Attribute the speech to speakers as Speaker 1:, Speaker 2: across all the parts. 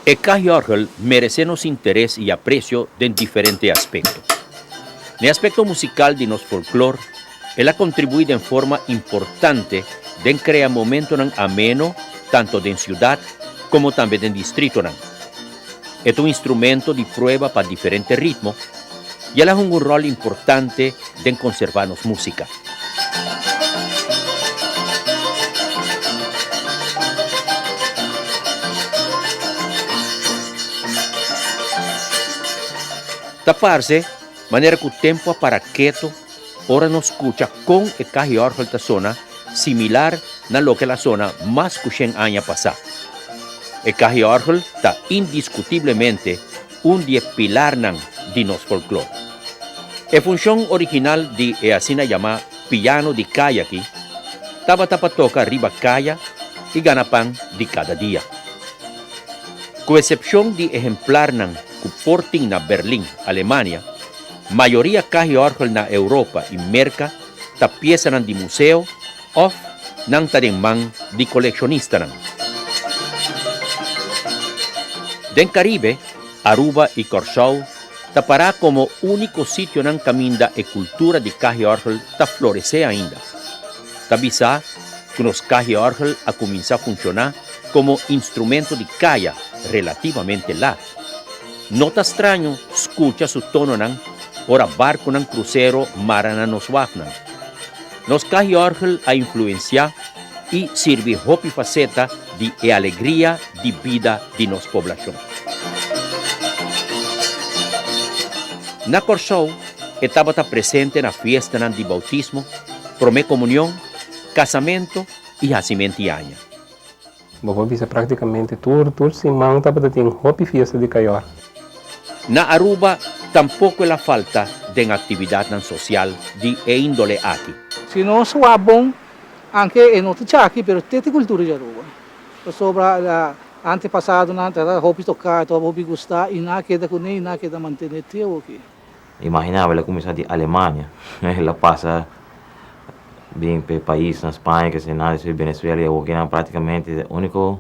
Speaker 1: E Kahjorgel meresé nos interes i apresio den diferente aspekto. Na e aspekto musikal di nos folklor, El a kontribuí den forma importante den krea momentonan ameno tanto den siudat komo tambe den distritonan. E ta un instrumento di prueba pa diferente ritmo i el a hunga un ròl importante den konservá nos músika. Ta parse, manera ku tempu a para ketu, Ora nos scucha con e cahiorgel ta sona similar na loke el a sona mas cu shen aña pasá, e cahiorgel ta indiscutiblemente un di e pilarnan di nos folklor. E funcion original di e asina yamá piano di caya aki tabata pa toca riba caya i gana pan di cada dia. Cu esepcion di ehemplarnan cu por tin na Berlin, Alemania, Mayoria kahiorgel na Europa i Merka ta piesanan di museo òf nan ta den man di kolekshonistanan. Den Karibe, Aruba i Kòrsou ta pará komo úniko sitionan kaminda e kultura di kahiorgel ta floresé ainda. Ta bisá ku nos kahiorgel a kuminsá funshoná komo instrumento di kaya relativamente lat. No ta straño skucha su tononan ora barkunan krusero mara na nos wafnan. Nos kahiòrgel a influensiá i sirbi hopi faseta di e alegria di bida di nos poblashon. Na Kòrsou e tabata presente na fiestanan di boutismo, promé komunion, kasamentu i hasi mentiaña. Bo por bisa práktikamente tur tur siman tabata tin hopi fiesta di kayor. Na Aruba tampoco el a falta den actividadnan social di e índole aki. Si no sua bon, anke e no ta cha aki, pero te ta cultura di Aruba. Pasobra antepasadonan ta hopi toca, ta hopi gusta y nan a keda cune y nan a keda mantene te awoki. Imagina awe el a kuminsá di Alemania, el a pasa bin p'e paisnan Spaña kesei nan, despues Benezuela i awor ke nan práktikamente e úniko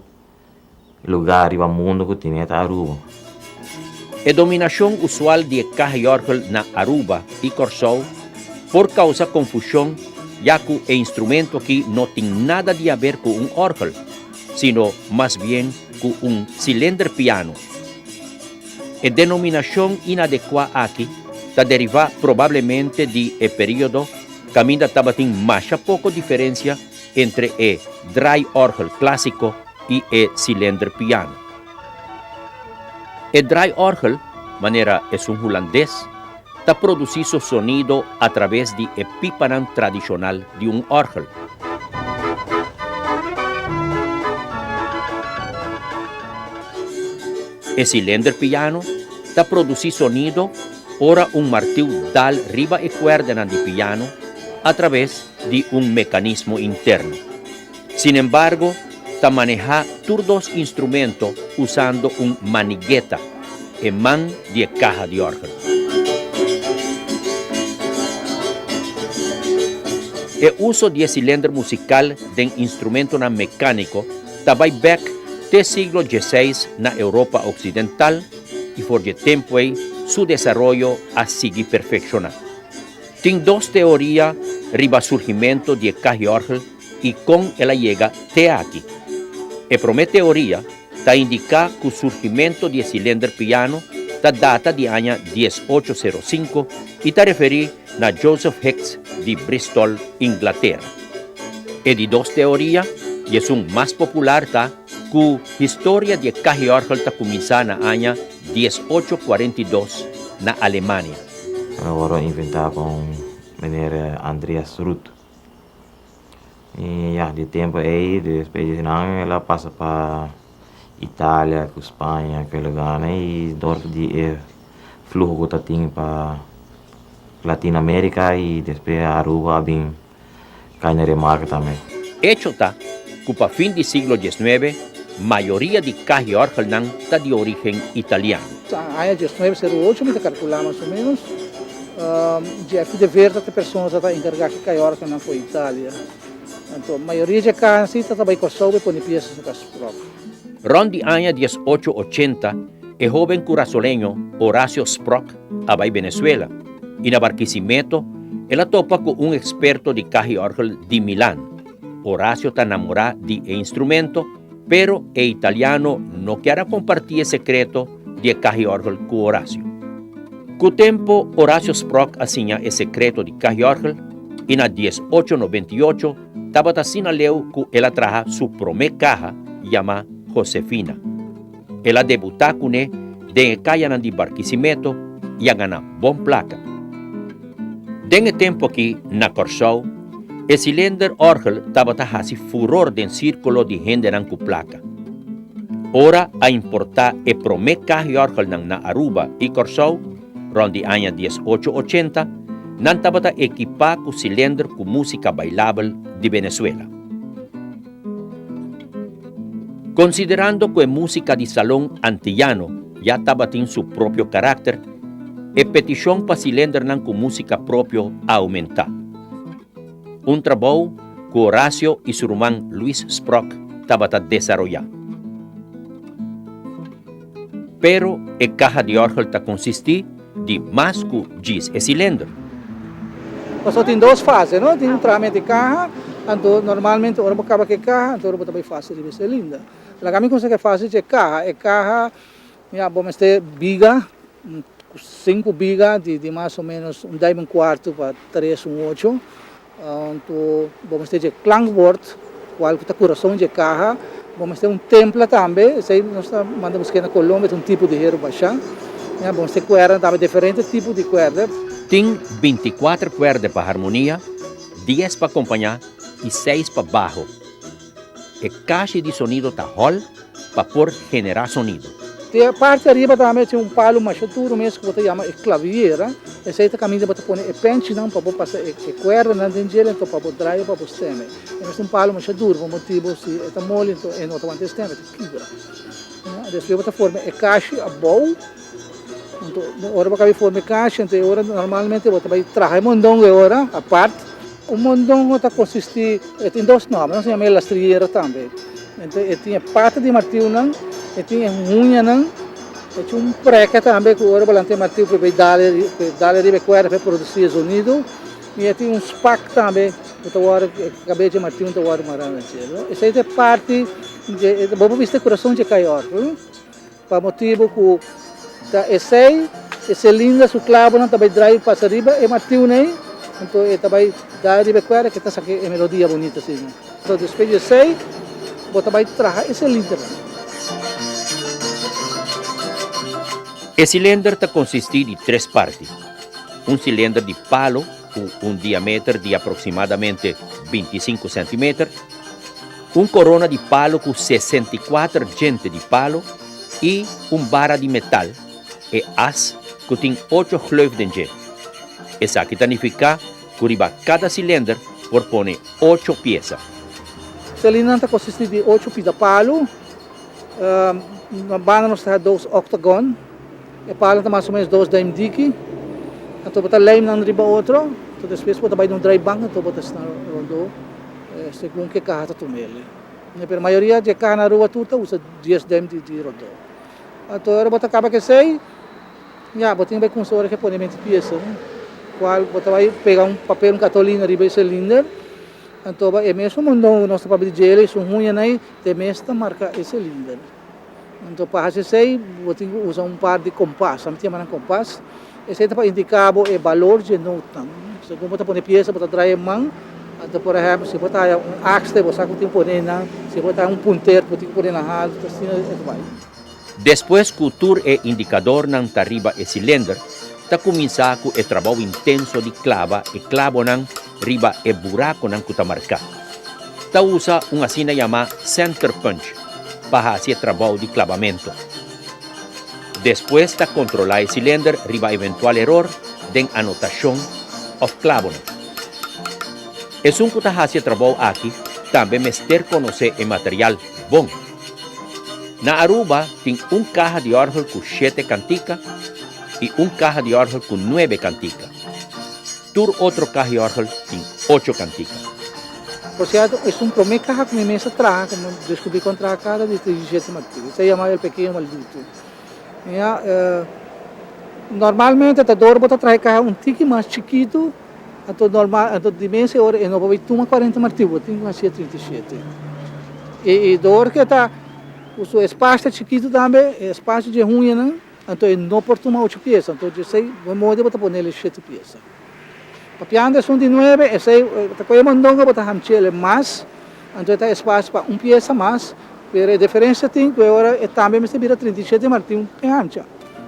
Speaker 1: lugá riba mundu ku tene ta Aruba. E dominashon usual di e Kahyorgel na Aruba i Kòrsou por kousa konfushon ya ku e instrumento akí no tin nada di haber ku un òrgel, sino mas bien ku un silenderpiano. E denominacion inadecua aki ta deriva probablemente di e periodo caminda tabatin masha poco diferencia entre e draaiorgel clasico y e cilinderpiano. E draaiorgel, manera esun Hulandes, ta produci su sonido a traves di e pipanan tradicional di un orgel. E silinder piano ta produsí sonido ora un martiu dal riba e kuerdanan di piano atraves di un mekanismo interno. Sinembargo, ta manehá tur dos instrumento usando un manigeta, e man di e kaha di òrgel. E uso di e silinder musikal den instrumentonan mekániko, Ta bai bek te siglo dieseis na Europa oksidental i for dje tempu ei su desaroyo a sigui perfekshoná. Tin dos teoria riba surgimentu di e kahiorgel i kon el a yega te aki. E promé teoria ta indiká ku surgimentu di e silender piano ta data di aña dies ocho sero sinku i ta referí na Joseph Hicks di Bristol, Inglatera. E di dos teoria i esun mas popular ta ku historia di e kahiòrgel ta kuminsá na aña dies ocho kuarenta i dos na Alemania. Ora inventá pa un meneer Andreas Ruth. Y ya, di e tempu ei, despues di esnan el a pasa pa Italia ku Spaña ku e lugarnan y dor di e fluho ku ta tin pa Latina America y despues Aruba a bin kai na Remarca tambe. Echo ta ku pa fin di siglo diesnuebe mayoria di cajiorgelnan ta di origen italiano. Sa aña diesnuebe seru ocho mi ta kalkulá mas o menos. Jeffy de Veer ta ta e persona ta ta enkargá ki kai òrgan nan for Italia. Anto mayoria dje kansi ta ta bai Kòrsou bai pone pies riba kas spròk. Rònt di aña dies ocho ochenta e hóben kurasoleño Horacio Spròk a bai Benezuela i na Barkisimeto el a topa ku un eksperto di kahiòrgel di Milan. Horacio ta namorá di e instrumento Pero e italiano no kier a kompartí e sekreto di e kahiòrgel ku Horacio. Ku tempu, Horacio Sprock a siña e sekreto di kahiòrgel i na dies ocho noventa i ocho tabata asinaleu ku el a traha su promé kaha yamá Josefina. El a debutá kuné den e kayanan di Barquisimeto i a gana bon plaka. Den e tempu akí na Kòrsou, e Cilinder Orgel tabata hasi furor den sírkulo di hendenan ku plaka. Ora a importá e promé kahiòrgelnan na Aruba i Kòrsou, rònt di aña dies ocho ochenta, nan tabata ekipá ku Cilinder ku músika bailabel di Venezuela. Konsiderando ku e músika di salon antillano ya tabatin su propio karakter, e petishon pa silendernan ku músika propio a oumentá. Un trabou ku Horacio i su ruman Luis Sprok tabata desaroyá. Pero e kaha di òrgel ta konsistí di mas ku djis e silendro. Pasobra tin dos fase, no? Tin un trame di kaha, anto normalmente ora bo kaba ku e kaha, anto ora bo ta bai fase riba e silindro. Laga mi konsa ku e fase dje kaha. E kaha, mira, bo mester biga, sinku biga di mas o menos un dèm i un kuartu pa tres, un ocho. Anto bo mester dje klankbord, kual ku ta kurason dje kaha. Bo mester un templa tambe, esei nos ta manda busk'é na Colombia, es un tipo di heru bashá. Bo mester kuerda tambe, diferente tipo di kuerda. Tin binti kuater kuerda pa harmonia, dies pa akompañá i seis pa baho. E kashi di sonido ta hòl pa por generá sonido. Te parti ariba tambe tin un palu masha duru mes ku bo ta yama e klaviera. Esei ta kaminda bo ta pone e pènchinan pa bo pasa e kuèrdanan den djel anto pa bo draya pa bo stèm'e. Esei ta un palu masha duru pa motibu si e ta moli anto e no ta wanta e stèm, e ta kibra. Despues bo ta forma e kashi abou. Ora bo kabe for mi kasha, anto e ora normalmente bo ta bai traha e mondongo e ora apart. Un mondongo ta konsistí, e tin dos nòmber, nos a yama e lastriera tambe. Anto e tin e pata di martiunan, e tin e huñanan, e tin un prèka tambe ku ora bo lanta e martiu por e bai dal dal riba e kuerda pa e produsí e zonido, i e tin un spak tambe ku ta wòrdu e kabechi e martiu ta wòrdu mará na cielo. Esei ta e parti, bo por bisti e kurason dje kai òrgel. Pa motibu ku ta esei e silinda su klabonan ta bai drai pasa riba e martiunan ei, anto e ta bai da riba e kuerda ke ta saki e melodia bunito asina. So despues di esei bo ta bai traha e silindernan. E silinder ta konsistí di tres parti. Un silinder di palo ku un diameter di aproksimadamente binti i sinku sentimeter. Un corona di palo cu sesenta i cuater djente di palo i un bara di metal, e as cu tin ocho gleuf den dje. Esaki ta nifica cu riba cada cilinder por pone ocho pieza. Cilindernan ta consisti di ocho pida palo, na banda nos ta haja dos octagon. E pala ta mas o menos dos duim diki, anto bo ta lei nan riba otro, anto despues bo ta bai den un draaibank anto bo ta sna rondó segun ke kaha ta tuma el'i. Pero mayoria di e kaha na rua tur ta usa dies duim di rondó. Anto ora bo ta kaba k'esei, ya, bo tin bai kunsa ora ke pone menti piesa, no? Kual bo ta bai pega un papel, un katolina riba e selinder, anto bo e mesun mondon ku nos ta papia di JLA, su huñanan ei te mes ta marka e selinder. Anto pa hasi esei bo tin ku usa un par di kompas. Ame ta yama nan kompas. Esei ta pa indika bo e balor dje notanan. Segun bo ta pone piesa bo ta traha e man. Anto por ehèmpel si bo ta haya un akste bo sa ku bo tin pone nan. Si bo ta haya un punter bo tin ku pone nan haltu. Asina e ta bai. Despues ku tur e indikadornan ta riba e silender ta kuminsá ku e trabou intenso di klaba e klabonan riba e burakonan ku ta marká. Ta usa un asina yamá center punch pa hasi e trabou di klabamentu. Despues ta kontrolá e silender riba eventual eror den anotashon òf klabonan. Esun ku ta hasi e trabou aki tambe mester konosé e material bon. Na Aruba tin un kaha di òrgel ku shete kantika i un kaha di òrgel ku nuebe kantika. Tur otro kahiorgel tin ocho kantika. Por sierto, es un prome kaha ku mi mester traha, ku mi deskubrí kon traha kada dia tres y siete martirio. Ta yama El Pekeño Maldito. Mira, normalmente ta dor bo ta traha e kaha un tiki mas chikitu, anto normal, anto di mes e ora e no por bai tuma cuarenta martirio, bo tin ku hasi e treinta y siete. I dor ke ta ku su espasio ta chikitu tambe, e espasio dje hunyanan, Anto e no por tuma ocho piesa, anto djesei bo modi bo ta ponel e shete piesa. Papiando esun di nuebe, esei bo ta koye mondongo bo ta hamchele mas, anto e ta espacio pa un piesa mas, pero e deferencia tin ku e ora e tambe mester bira trinta i shete martin e hamcha.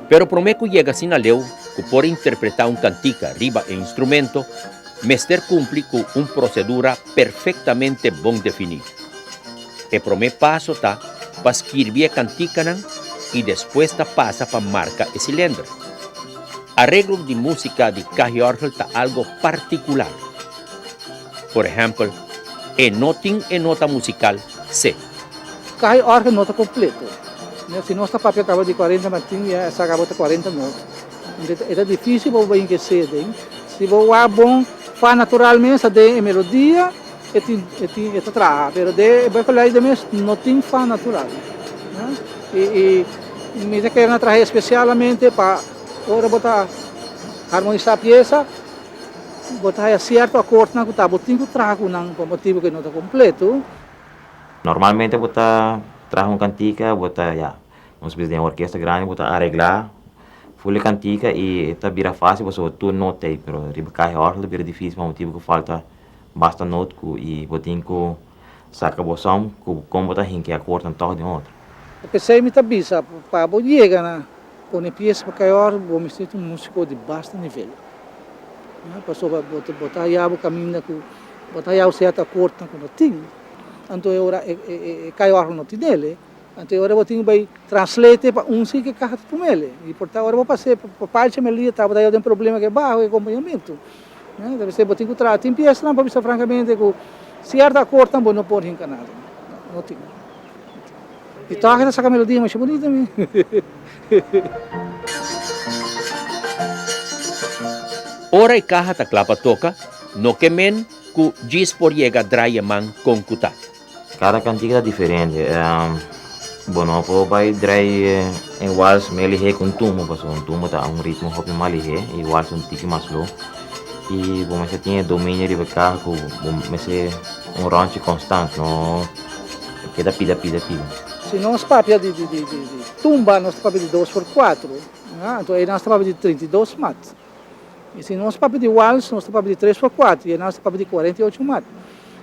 Speaker 1: Pero prome ku yega asina leu ku por interpreta un kantika riba e instrumento mester kumpli ku un prosedura perfektamente bon definí. E promé paso ta pa skirbi e kantikanan i despues ta pasa pa marka e silender. Areglo di músika di kahiòrgel ta algo partikular. Por ehèmpel, e no tin e nota musikal se. Kahiòrgel no ta kompleto. Si nos ta papia kaba di kuarenta na tin ya esaki abo ta kuarenta nota. Entonces e ta difísil pa bo bayin ku e seden. Si bo wak bon, fa natural mes ta den e melodia. E tin, e tin, e ta traha, pero de e bay colegio de mes no tin fan natural. Huh? Y, y mi ta keren a traha especialmente pa ora bo ta harmonisa pieza, bo ta haya cierto akordnan ku ta bo tin ku traha ku nan pa un motibu ku e no ta kompletu. Normalmente bo ta traha un kantika, bo ta, ya, nos bisa den e orkesta grandi, bo ta aregla ful e kantika y e ta bira facil pasobra tur nota ey, pero riba caja orgel ta bira dificil pa motibu ku falta. Basta note cu y bo tin cu saca bo som cu con bo ta hinkea cu wortan tog den otro. E pesey mi ta bisa pa bo yega na pone pieza pa cay or bo misti tin un musico di basta nivel. Pasobra bo bo ta haya bo caminda cu bo ta haya bo cierto acord nan cu no tin. Anto e ora e cay or nan no tinele. Anto ora bo tin ku bai translate pa un si ke kaha ta tuma el. I por ta ora bo pas'é pa parchi mi lia tabata yo den problema ke baho e kompañamentu. Enta mester bo tin ku traha. Tin piesnan pa bisa frankamente ku sierto akortnan bo no por hinka nada. No tin. No tin. I tòg e ta saka melodia masha bunita mi. Ora e kaha ta kla pa toka, no ke men ku djis por yega drai e man kon ku ta. Cada cantica ta diferente bo no por bay draai en wals mey lihe cu un tumbo pasobra un tumbo ta un ritmo hopi mas lihe y wals un tiki mas slow y bo mester tin e dominio riba e caja cu bo mester un ronchi constant no keda pida pida pida. Si nos papia di tumba nos ta papia di dos por cuatro anto ayi nos ta papia di trinta y dos maat. I si nos papia di wals, nos ta papia di tres por kuater, i enan ta papia di kuarenta i ocho mat.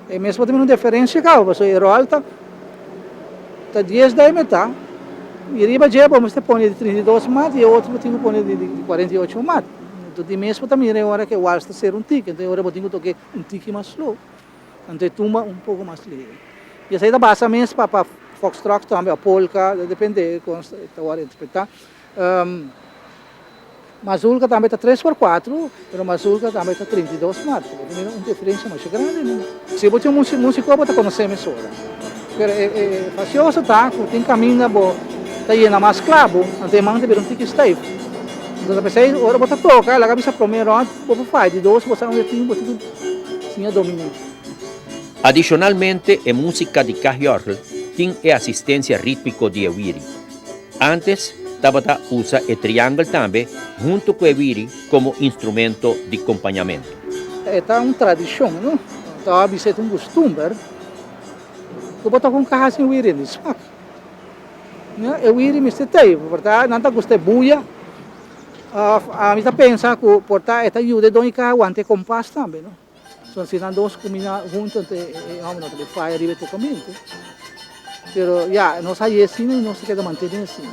Speaker 1: E mes por ta mira un deferensia kaba, pasobra e ròl ta ta dies dai metá, i riba dje bo mester pone di trinta i dos mat, i e otro bo tin ku pone di kuarenta i ocho mat. Anto tin mes por ta mira e ora ku e wals ta ser un tiki, anto e ora bo tin ku tok'é un tiki mas slo, anto e tumba un poko mas leve. I esei ta basa mes pa pa foxtrot tambe, òf polka, ta depende kon ta wòrdu interpretá. Mazulka tambe ta tres por kuatru, pero Mazulka tambe ta trinta i dos marcha. Bo ta mira un diferensha masha grandi, no? Si bo tin un musiko bo ta konosé mesora. Pero e grasioso ta ku tin kaminda bo ta yena mas kla, bo antes man ta bira un tiki steif. Entonces p'esei ora bo ta toka, laga bisa promé rònt, bo por fai. Di dos bo sa unda tin, bo tin ku siña dominé. Adishonalmente e músika di Kahjorgl tin e asistensia rítmiko di e wiri. Antes tabata usa e triangle tambe hunto ku e wiri komo instrumento di kompañamentu. E ta un tradishon, no ta a bisa e ta un kustumber ku bo ta kon kaha sin wiri di smak. E wiri mester ta ei porta nan ta gusta e buya òf ami ta pensa ku porta e ta yuda e don i kaha wanta e kompas tambe. Son si nan dos kuminá huntu anto e hòmbernan ta bay faya riba e tokamentu. Pero ya, nos a haye asina i nos ta keda mantené asina.